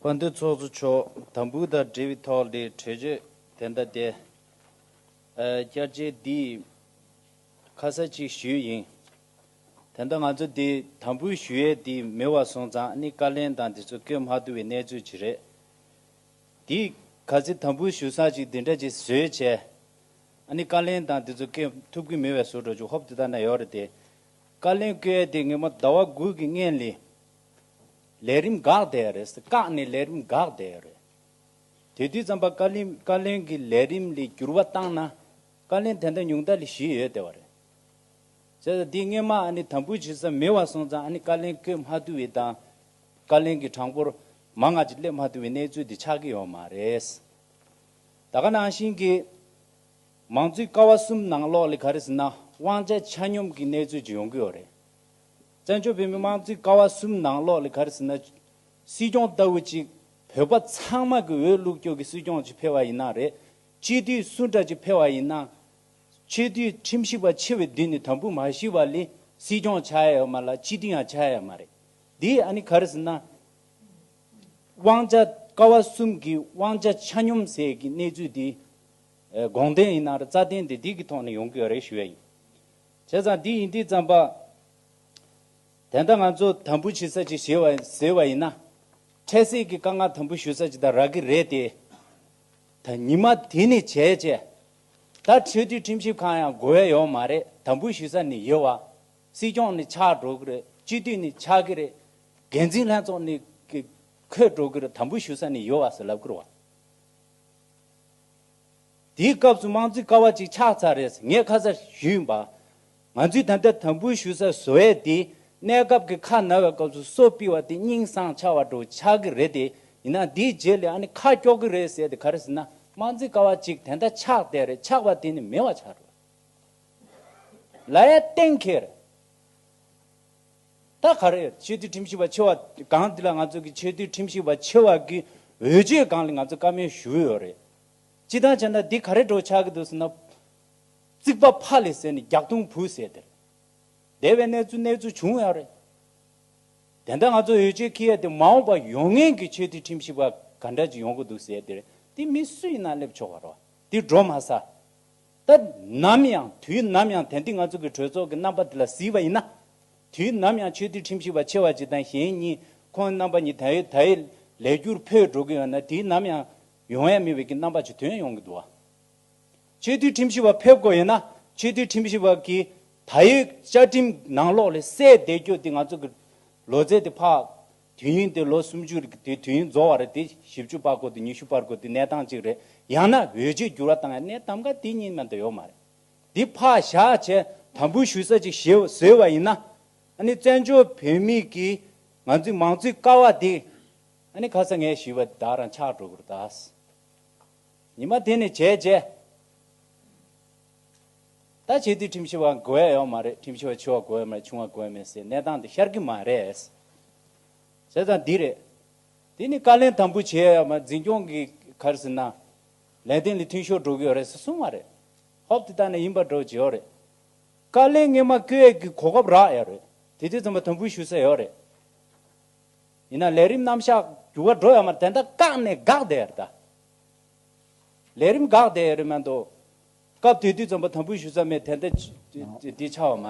དཔོན་ཏེ་ཚོགས་གཙོ་མཆོག་དམ་འབུལ་དང་འབྲེལ་བའི་ཐོག་ལས་གྲོས་ཆོད་དེ་འདྲ་དེ་བསྐྱར་འབྱེད་འདིས་ཁ་གསལ་གཅིག་ཞུས་ཡིན། དེ་འདྲ་ང་ཚོ་འདི་དམ་འབུལ་ཞུ་ཡས་འདི་མི་བ་སོང་ཙང་ནི་བཀའ་ལན་དང་འདི་ཚོ་བཀོད་མ་ཐུབ་བའི་གནས་ཚུལ་གྱི་རེད། འདིས་ག་ཚེ་དམ་འབུལ་ཞུ་སང་ཅིག་འདི་འདྲ་ཅིག་བཟོས་བྱས་ནི་བཀའ་ལན་དང་འདི་ཚོ་བཀོད་ཐུབ་གི་མི་བས་བཟོ་འགྲོ་ཅིག་ཧོབ་དེ་དག་ན་ཡོད་རེད་དེ། བཀའ་བློན་བཀའི་དེ་སྔོན་མ་ཟླ་བ་དགུ་གི་སྔན་ལས་ལས་རིམ་འགག་བསྡད་ཡ་རེད་བཀག་ནས་ལས་རིམ་འགག་བསྡད་ཡ་རེད། དེ་དུས་ཙམ་པ་བཀའ་བླིན་བཀའ་བློན་གི་ལས་རིམ་ལས་འགྱུར་བ་བཏང་ན་བཀའ་བློན་དེ་འདྲ་ཉུང་མཐའ་ལས་ཞི་ཡོད་བསྡད་བ་རེད། བྱས་ཙང་དེ་སྔོན་མ་ཨ་ནི་དམ་འབུལ་བྱེད་ས་མེད་བ་སོང་ཙང་ཨ་ནི་བཀའ་བློན་བསྐོས་མ་ཐུབ་བའི་དང་བཀའ་བློན་གི་གྲངས་འབོར་མང་ང་ཅིག་སླེབས་མ་ཐུབ་བའི་གནས་ཚུལ་དེ་ཆགས་ཀྱི་ཡོད་མ་རེད། ད་ག་ནང་བཞིན་གྱི། མང་གཙོའི་ཀ་བ་གསུམ་ནང་ལོགས་ལས་ག་རེ་ཟིན་ན་དབང་ཆ་ཆ་སྙོམས་ཀྱི་གནས་ཚུལ་ཅིག་ཡོང་གི་ཡོད་རེད། བཙན་བྱོལ་བོད་མིའི་དམངས་གཙོའི་ཀ་བ་གསུམ་ནང་ལོགས་ལས་ག་རེ་ཟིན་ན། སྲིད་སྐྱོང་ལྟ་བུ་གཅིག་བོད་པ་ཚང་མ་གི་འོས་བླུགས་སྐྱོག་གི་སྲིད་སྐྱོང་ཅིག་འཕེལ་བ་ཡིན་ན་རེད། སྤྱི་འཐུས་སུ་འདྲ་ཅིག་འཕེལ་བ་ཡིན་ན། ཆེས་འཐུས་ཁྲིམས་ཞིབ་པ་ཆེ་བའི་མདུན་ནས་དམ་འབུལ་མ་ཞུས་པ་ལས་སྲིད་སྐྱོང་བྱ་ཡ་ཡོད་མ་ལ་སྤྱི་འཐུས་ཡང་བྱ་ཡ་ཡོད་མ་རེད། འདིས་ཨ་ནི་ག་རེ་ཟིན་ན། དབང་ཆ་ཀ་བ་གསུམ་གི་དབང་ཆ་ཆ་སྙོམས་ཟེར་གི་གནས་ཚུལ་འདི། དགོངས་དོན་ཡིན་ན་རྩ་དོན་དེ་དུས་ཀྱི་ཐོག་ནས་ཡོང་གི་ཡོད་རེད་ཞུ་ཡ་ཡིན། བྱས་ཙང་དེ་ཡིན་དུས་ཙམ་པ། དེ་འདྲ་ང་ཚོ་དམ་འབུལ་བྱེད་ས་ཅིག་བྱེད་བ་ཟེར་བ་ཡིན་ན། འཕྲལ་སེལ་གྱི་དཀའ་ངལ་དམ་འབུལ་ཞུ་ས་ཅིག་དང་རག་གི་རེད་དེ། ད་ཉི་མ་དེ་ནས་བྱས་བྱས། ད་ཆོས་དུས་ཁྲིམས་ཞིབ་ཁང་ཡང་དགོས་ཡ་ཡོད་མ་རེད་དམ་འབུལ་ཞུ་ས་ནི་ཡོད་བ། སྲིད་སྐྱོང་ནི་ཆགས་འགྲོ་གི་རེད་སྤྱི་འཐུས་ནི་ཆགས་གི་རེད། འགན་འཛིན་ལྷན་ཚོགས་ནི་འཁོད་འགྲོ་གི་རེད་དམ་འབུལ་ཞུ་ས་ནི་ཡོད་བ་ཟེར་ལབ་གི་རེད་བ། དེའི་སྐབས་སུ་དམངས་གཙོའི་ཀ་བ་ཅིག་ཆགས་ཚར་རེད་ངས་ཁ་གསལ་ཞུས་པ། ང་ཚོས་ད་ལྟ་དམ་འབུལ་ཞུ་སར་བཟོ་ཡས་དེ། གནས་སྐབས་ཀྱི་ཁ་ན་བའི་སྐབས་སུ་གསོ་སྤི་བ་དེ་སྙིང་བཟང་ཆགས་བ་འགྲོ་ཆགས་ཀྱི་རེད་དེ། ཡིན་ནའང་དེའི་རྗེས་ལས་ཨ་ནི་ཁ་དཀྱོག་གི་རེད་ཟེར་དེ་ག་རེ་ཟེར་ན་དམངས་གཙོའི་ཀ་བ་ཅིག་དེ་འདྲ་ཆགས་བསྡད་རེད་ཆགས་པ་དེ་ནི་མེད་བ་ཆགས་རེད། ལ་ཡའི་གཏན་འཁེལ་རེད། ད་ག་རེད་ཆོས་དུས་ཁྲིམས་ཞིབ་པ་ཆེ་བ་སྒང་འདི་ལ་ང་ཚོ་གི་ཆོས་དུས་ཁྲིམས་ཞིབ་པ་ཆེ་བ་གི་འོས་ཆོས་སྒང་ལ་ང་ཚོ་བཀའ་མོལ་ཞུ་ཡོད་རེད་སྤྱི་དང་བྱས་ན་འདི་ག་རེད་གྲོགས་ཆག་གི་འདུག་ཟེར་ན། རྩིག་པ་ཕ་ལས་ཟེར་ནས་རྒྱག་རྡུང་བུ་ཟེར་དེ་རེད་འདས་པའི་གནས་ཚུལ་གནས་ཚུལ་བྱུང་ཡོད་རེད། དེ་འདྲ་ང་ཚོ་འོས་ཆོས་ཁེ་ཡ་དེ་མ་འོངས་པ་ཡོང་ངེས་གི་ཆོས་དུས་ཁྲིམས་ཞིབ་པ་ག་འདྲ་ཅིག་ཡོང་གི་འདུག་ཟེར་དེ་རེད་འདི་མི་སུ་ཡིན་ན་སླེབས་ཆོག་པ་རེད་འདི་འགྲོ་མ་ས། སྐབས་ནམ་ཡང་དུས་ནམ་ཡང་དན་ཏིག་ང་ཚོ་གི་གྲོས་ཚོགས་ཀྱི་རྣམ་པ་དེ་ལ་གཟིགས་པ་ཡིན་ན། དུས་ནམ་ཡང་ཆོས་འདུལ་ཁྲིམས་ཞིབ་པ་ཆེ་བ་གཅིག་དང་གཞན་གཉིས་ཁོང་རྣམ་པ་གཉིས་དལ་ཡོད་དལ་ཡོད་ལས་རྒྱུར་འཕོས་འགྲོ་གི་ཡོད་ན་དུས་ནམ་ཡང་ཡོང་ཡ་མི་བས་ཀྱི་རྣམ་པ་ཇི་ཐོན་ཡོང་གི་འདུག་ཨ། ཆོས་འདུལ་ཁྲིམས་ཞིབ་པ་ཕེབས་དགོས་ཡོད་ན་ཆོས་འདུལ་ཁྲིམས་ཞིབ་པ་གྱི་ད་ཡོད་བཅའ་ཁྲིམས་ནང་ལོགས་ལས་གསལ་བསྡད་རྒྱུ་དེ་ང་ཚོ་གི་ལོ་ཙེ་དེ་ཕག་དུས་ཡུན་དེ་ལོ་སུམ་ཅུ་རེད་དེ་དུས་ཡུན་རྫོགས་བར་དེ་བཞི་བཅུ་པག་གོ་དེ་ཉི་ཤུ་པར་གོ་དེ་གནས་སྟངས་གཅིག་རེད་ཡང་ན་འོས་ཆོས་འགྱུར་བ་དང་ཡང་གནས་ཐམ་ག་དེ་གཉིས་མན་དུ་ཡོད་མ་རེད་དེ་ཕག་བཞག་བྱས་དམ་འབུལ་ཞུ་ས་ཅིག་བཟོས་བ་ཡིན་ན་ཨ་ནི་བཙན་བྱོལ་བོད་མི་གིས་ང་ཚོའི་མང་གཙོའི་ཀ་བ་དེ་ཨ་ནི་ཁ་ས་ངས་ཞུས་པ་དེ་དག་རང་ཆགས་འགྲོ་དགོས་རེད་ད། ཉི་མ་དེ་ནས་བྱས་རྗེས། ད་བྱས་དུས་ཁྲིམས་ཞིབ་བ་དགོས་ཡས་ཡོག་མ་རེད་ཁྲིམས་ཞིབ་བ་ཆུ་བ་དགོས་ཡས་མ་རེད་ཆུང་བ་དགོས་ཡས་མེད་སའི་གནས་སྟངས་དེ་ཤར་གི་མ་རེད། བྱས་ཙང་འདི་རེད། དེ་ནི་བཀའ་ལན་དམ་པོ་བྱས་ཡས་མ་འཛིན་སྐྱོང་གི་གར་ཟིན་ན། ལས་དོན་ལི་ཐུན་ཤོར་འགྲོ་གི་ཡོག་རེད་ས་གསུང་བ་རེད། ཧོབ་དེ་དག་ནས་ཡིན་པ་འགྲོ་བྱེད་ཡོག་རེད། བཀའ་ལན་ངེས་མ་བཀོད་ཡས་ཀི་གོ་སྐབས་རག་ཡས་རེད་དེ་དུས་ཙམ་པ་དམ་པོ་ཞུ་ས་ཡོག་རེད། ཡིན་ན་ལས་རིམ་རྣམ་བཞག་འགྱུར་བ་འགྲོ་ཡས་མ་དེ་འདྲ་བཀག་ནས་དགག་བསྡད་ཡས་རེད་ད། ལས་རིམ་འགག་དེ་རིང་མ་འདུག། སྐབས་དེ་དུས་རྩོམ་པ་དམ་འབུལ་ཞུ་ས་མེད་དེ་ལྟ་འདི་ཆགས་བ་མ་རེད།